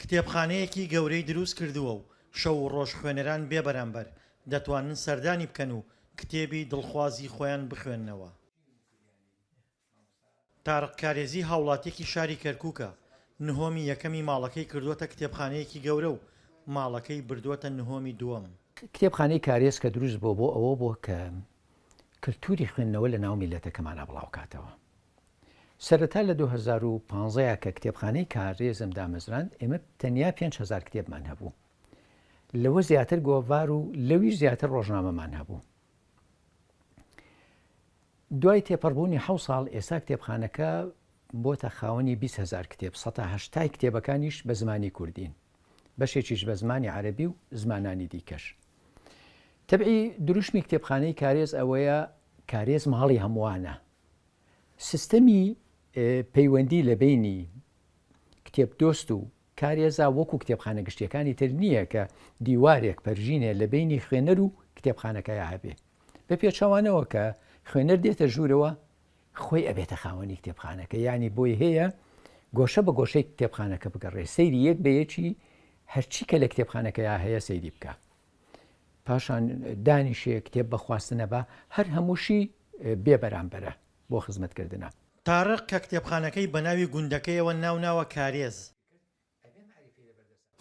کتێبخانەیەکی گەورەی دروست کردووە و شەو و ڕۆژ خوێنەران بێ بەرامبەر دەتوانن سەردانی بکەن و کتێبی دڵخوازی خۆیان بخوێننەوە. تارق کارێزی هاوڵاتیەکی شاری کەرکوکە، نهۆمی یەکەمی ماڵەکەی کردووەتە کتێبخانەیەکی گەورە و ماڵەکەی بردووەتە نهۆمی دووەم. کتێبخانەی کارێز کە دروست بووە بۆ ئەوە بووە کە کلتوری خوێندنەوە لە ناو میللەتەکەمانا بڵاوکاتەوە. سەرەتا لە دوو هەزار و پازدە ەوە کە کتێبخانەی کارێزم دامەزراند ئێمە تەنیا پێنج هەزار کتێبمان هەبوو لەوە زیاتر گۆڤار و لەویش زیاتر ڕۆژنامەمان هەبوو دوای تێپەڕبوونی حە ساڵ ئێستا کتێبخانەکە بۆتە خاوەنی 20 هزار کتێب 1970 کتێبەکانیش بە زمانی کوردین بەشێکیش بە زمانی عەربی و زمانانی دیکەش تەبعی دروشمی کتێبخانەی کارێز ئەوەیە کارێز ماڵی هەمووانە سیستەمی پەیوەندی لە بەینی کتێبدۆست و کارێزا وەکو کتێبخانە گشتیەکانی تر نییە کە دیوارێک پەرژینێ لە بەینی خوێنەر و کتێبخانەکەیا هەبێ بە پێچەوانەوە کە خوێنەر دێتە ژوورەوە خۆی ئەبێتە خاوەنی کتێبخانەکە ینی بۆی هەیە گۆشە بە گۆشەی کتێبخانەکە بگەڕێ سەیری یەک بە یەکی هەرچی کە لە کتێبخانەکەیا هەیە سەیری بکە پاشان دانیشێ کتێب بە خواستنە با، هەر هەمووشی بێ بەرامبەرە بۆ خزمەت کردنە. تارق کە کتێبخانەکەی بە ناوی گوندەکەیەوە ناو ناوە کارێز،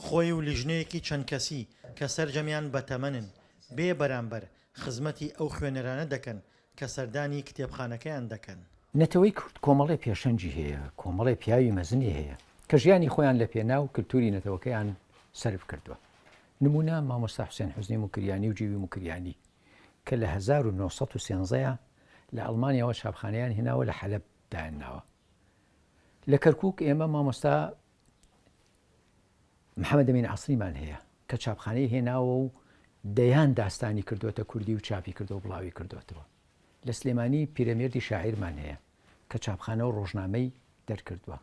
خۆی و لیژنەیەکی چەند کەسی کە سەرجەمیان بە تەمەنن، بێ بەرامبەر خزمەتی ئەو خوێنەرانە دەکەن کە سەردانی کتێبخانەکەیان دەکەن. نەتەوەی کورد کۆمەڵێ پێشەنگی هەیە، کۆمەڵێ پیاوی مەزنی هەیە کە ژیانی خۆیان لە پێناو کلتوری نەتەوەکەیان سەرف کردوە. نموونە مامۆستا حوسێن حوزنی موکریانی و جیوی موکریانی کە لە هەزار و نۆ سەد و سێنزە ە لە ئەڵمانیاوە چاپخانەیان هێناوە لە حەلەب دایان ناوە لە کەرکووک ئێمە مامۆستا محەممەد ئەمین عەسریمان هەیە کە چاپخانەی هێناوە و دەیان داستانی کردوتە کوردی و چاپی کردو و بڵاوی کردوتەوە لە سلێمانی پیرەمێردی شاعیرمان هەیە کە چاپخانە و ڕۆژنامەی دەرکردووە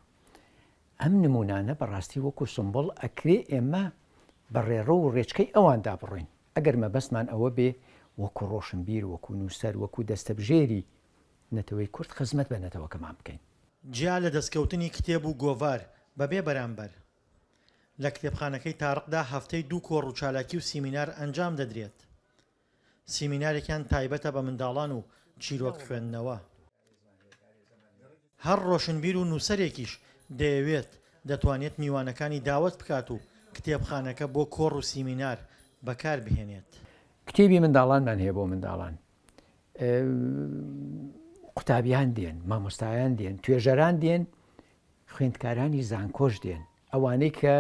ئەم نمونانە بەڕاستی وەکو سومبوڵ ئەکرێ ئێمە بە ڕێڕەو و ڕێچکەی ئەواندا بڕۆین ئەگەر مەبەستمان ئەوە بێ وەکو ڕۆشنبیر وەکو نوسەر وەکو دەستەبژێری نەتەوەی کورد خزمەت بە نەتەوەکەمان بکەین. جیا لە دەستکەوتنی کتێب و گۆڤار بە بێ بەرامبەر، لە کتێبخانەکەی تارقدا هەفتەی دوو کۆڕ و چالاکی و سیمینار ئەنجام دەدرێت. سیمینارێکیان تایبەتە بە منداڵان و چیرۆک خوێندنەوە. هەر ڕۆشنبیر و نووسەرێکیش دەیەوێت، دەتوانێت میوانەکانی داوەت بکات و کتێبخانەکە بۆ کۆڕ و سیمینار بەکار بهێنێت. کتێبی منداڵانمان هەیە بۆ منداڵان. قوتابیان دێن، مامۆستایان دێن، توێژەران دێن، خوێندکارانی زانکۆش دێن. ئەوانەی کە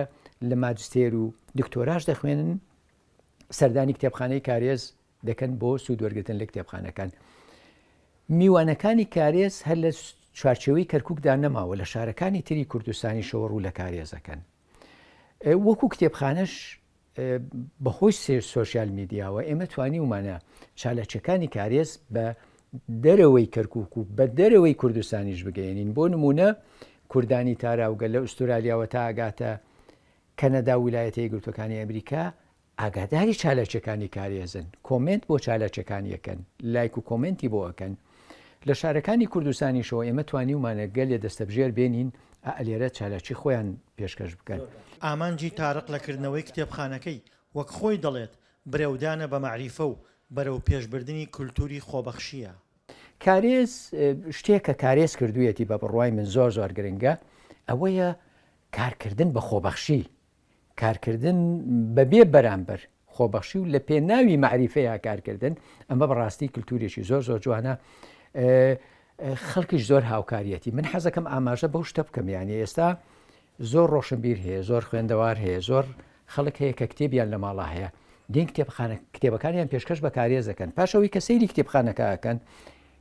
لە ماجستێر و دکتۆراش دەخوێنن، سەردانی کتێبخانەی کارێز دەکەن بۆ سوود وەرگتن لە کتێبخانەکان میوانەکانی کارێز هەر لە چوارچەوەی کەرککدا نەماوە لە شارەکانی تری کوردستانی شەوە ڕوو لە کارێزەکەن وەکو کتێبخانەش بەخۆی سێر سوۆسیال میدیاوە ئێمە توانی ومانە چالەچەکانی کارێز بە دەرەوەی کەرکک و بە دەرەوەی کوردستانیش بگەێنین بۆ نمونە کوردانی تاراوگە لە ئوسترالیاوە تاگاتە کەنەدا و ولایەتە یەکگرتووەکانی ئەمریکا ئاگاداری چالاکیەکانی کارێزن کۆمێنت بۆ چالاکیەکانی ئەکەن لایک و کۆمێنتی بۆ ئەکەن لە شارەکانی کوردستانیشەوە ئێمە توانیومانە گەلێ دەستەبژێر بێنین ئەئ لێرە چالاکی خۆیان پێشکەش بکەن. ئامانجی تارق لە کردنەوەی کتێبخانەکەی وەک خۆی دەڵێت برەودانە بە مەعریفە و بەرەوپێشبردنی کولتووری خۆبەخشییە. کارێز شتێک کە کارێز کردوویەتی بە بڕوای من زۆر زۆر گرنگە ئەوەیە کارکردن بە خۆبەخشی کارکردن بەبێ بەرامبەر خۆبەخشی و لە پێناوی معریفەیە کارکردن ئەمە بەڕاستی کللتوریشی زۆر زۆر جوانە خەڵکیش زۆر هاوکاریەتی من حەزەکەم ئاماژە بەو شتە بکەم یانی ئێستا زۆر ڕۆشنبیر هەیە زۆر خوێندەوار هەیە زۆر خەڵک هەیە کە کتێبیان لە ماڵا هەیە دین کتێبخانە کتێبەکانیان پێشکەش بە کارێز دەکەن پاشەوەی کە سەیری کتێبخانەکەکەن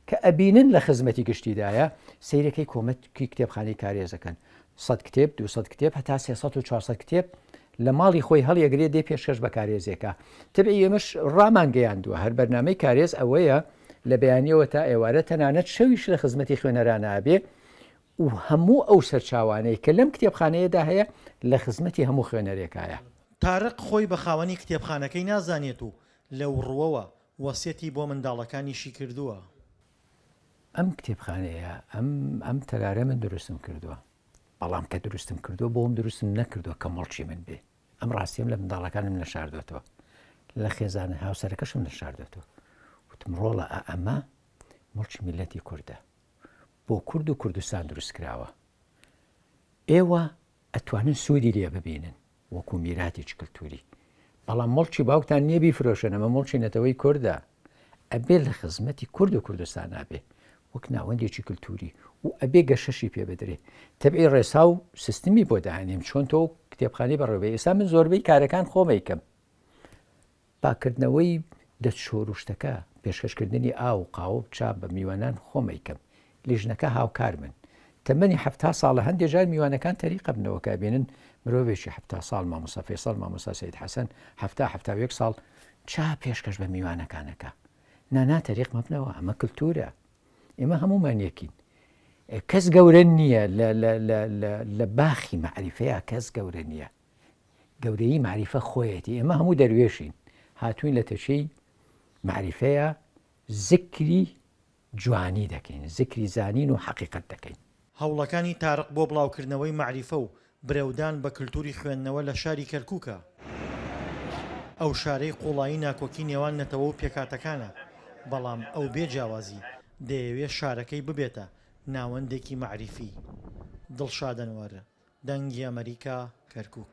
کە ئەبینن لە خزمەتی گشتیدایە سیرەکەی کۆمەتکی کتێبخانەی کارێزەکەن 100 کتێب 200 کتێب هەتا 400 کتێب لە ماڵی خۆی هەڵیەگرێ دێ پێشکەش بە کارێزێکە تبعی ئێمەش ڕامانگەیاندووە هەر بەرنمەی کارێز ئەوەیە لە بەیانیەوە تا ئێوارە تەنانەت شەویش لە خزمەتی خوێنەرانە ئەبێ و هەموو ئەو سەرچاوانەی کە لەم کتێبخانەیەدا هەیە لە خزمەتی هەموو خوێنەرێکایە. تارق خۆی بە خاوەنی کتێبخانەکەی نازانێت و لەو ڕووەوە وەسیەتی بۆ منداڵەکانیشی کردووە. ئەم کتێبخانەیە ئەم ئەم تەلارە من دروستم کردووە، بەڵام کە دروستم کردووە بۆم دروستم نەکردووە کە مڵکی من بێ، ئەم ڕاستیەم لە منداڵەکانم نەشاردۆتەوە، لە خێزانە هاوسەرەکەشم نەشاردۆتەوە، وتم ڕۆڵە ئا ئەمە مڵکی میللەتی کوردە. بۆ کورد و کوردستان دروست کراوە ئێوە ئەتوانن سوودی لێ ببینن وەکو میراتێکی کللتوری بەڵام مڵکی باوکتان نییە بیفرۆشن ئەمە مڵکی نەتەوەی کووردە ئەبێ لە خزمەتی کورد و کوردستان نابێ وەک ناوەندێکی کللتوری و ئەبێ گەشەشی پێ بدرێ تەبعی ڕێسا و سیستمی بۆ داهێنیم چۆن تۆ کتێبخانی بەڕێوە ئێستا من زۆربەی کارەکان خۆمەیکەم پاککردنەوەی دەست شۆروشتەکە، پێشکەشکردنی ئاو و قاوە و چا بە میوانان خۆم ئەیکەم، لیژنەکە هاوکارمن. تەمەنی حەفتا ساڵە، هەندێ جار میوانەکان تەریقە بنەوە کە ئەبینن مرۆڤێکی حەفتا ساڵ، مامۆستا فەیسەڵ، مامۆستا سەید حەسەن، حەفتا، حەفتا و یەک ساڵ، چا پێشکەش بە میوانەکان ئەکا. نا نا تەریق مەبنەوە، ئەمە کلتورە. ئێمە هەموومان یەکین. کەس گەورە نییە، لە باخی مەعریفەیا کەس گەورە نییە. گەورەیی مەعریفە خۆیەتی، ئێمە هەموو دەروێشین، هاتووین لە تەچەی مەعریفەیا زیکری جوانی دەکەین، زیکری زانین و حەقیقەت دەکەین. هەوڵەکانی تارق بۆ بڵاوکردنەوەی مەعریفە و برەودان بە کلتوری خوێندنەوە لە شاری کەرکوکە، ئەو شارەی قوڵایی ناکۆکی نێوان نەتەوە و پێکهاتەکانە، بەڵام ئەو بێ جیاوازی دەیەوێ شارەکەی ببێتە ناوەندێکی مەعریفی، دڵشاد ئەنوەر، دەنگی ئەمەریکا، کەرکووک.